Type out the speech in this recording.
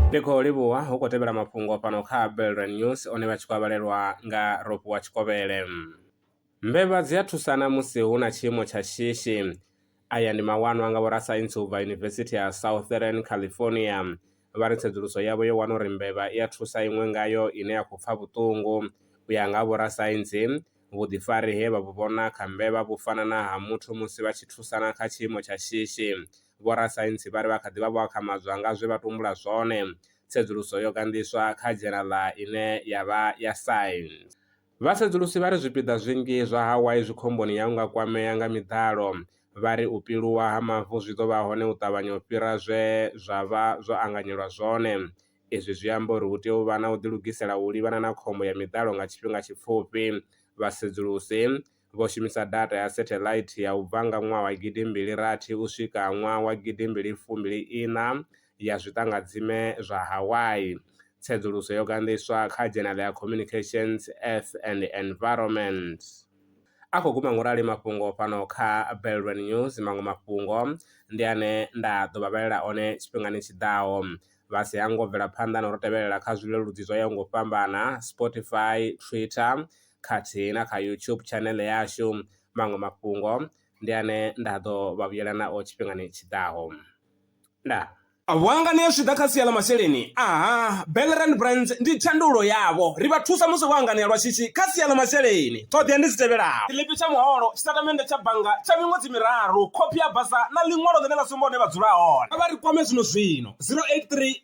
ndi khou livhuwa hu khou tevhela mafhungo fhano kha belran news one vha tshi khou avhalelwa nga ropo wa tshikovhele mbevha dzi a thusana musi hu na tshiimo tsha shishi aya ndi mawanwa nga vhorasaintsi u bva yunivesithi ya southern california vha ri tsedzuluso yavho yo wana uri mbevha i a thusa iṅwe ngayo ine ya khou pfa vhuṱungu. U ya nga ha vhorasaintsi, vhuḓifari he vha vhu vhona kha mbevha vhu fana na ha muthu musi vha tshi thusana kha tshiimo tsha shishi. Vhorasaintsi vha ri vha kha ḓi vha vho akhamadzwa nga zwe vha tumbula zwone. Tsedzuluso yo ganḓiswa kha dzhenala ine ya vha ya Science. Vhasedzulusi vha ri zwipiḓa zwinzhi zwa Hawaii zwi khomboni ya u nga kwamea nga miḓalo. Vha ri u piluwa ha mavu zwi ḓo vha hone u ṱavhanya u fhira zwe zwa vha zwo anganyelwa zwone. Izwi zwi amba uri hu tea u vha na u ḓilugisela u livhana na khombo ya miḓalo nga tshifhinga tshipfufhi, vhasedzulusi vho shumisa data ya satellite ya u bva nga ṅwaha wa gidi mbili rathi u swika ṅwaha wa gidi mbili fumbili iṋa ya zwiṱangadzime zwa Hawaii. Tsedzuluso yo ganḓiswa kha dzhenala ya Communications, Earth and Environment. A khou guma ngorali mafhungo fhano kha Belrwe News, maṅwe mafhungo ndi ane nda ḓo vha vhalela one tshifhingani tshi ḓaho. Vha si hango bvela phanḓa na u ri tevhelela kha zwileludzi zwo yaho nga u fhambana, Spotify, Twitter, khathihi na kha YouTube channel yashu. Maṅwe mafhungo ndi ane nda ḓo vha vhuyela nao tshifhingani tshiḓaho. Ndaa. Vhuangani zwi ḓa kha sia ḽa masheleni aha Bellerand Brands ndi thandululo yavho ri vha thusa musi vho anganea lwa shishi kha sia ḽa masheleni ṱhoḓea ndi dzi tevhelaho tshiḽipi tsha muholo tshitatamennde tsha bannga tsha miṅwedzi miraru khophi ya basa na ḽiṅwalo ḽine ḽa sumba hune vha dzula hone vha ri kwame zwino zwino 083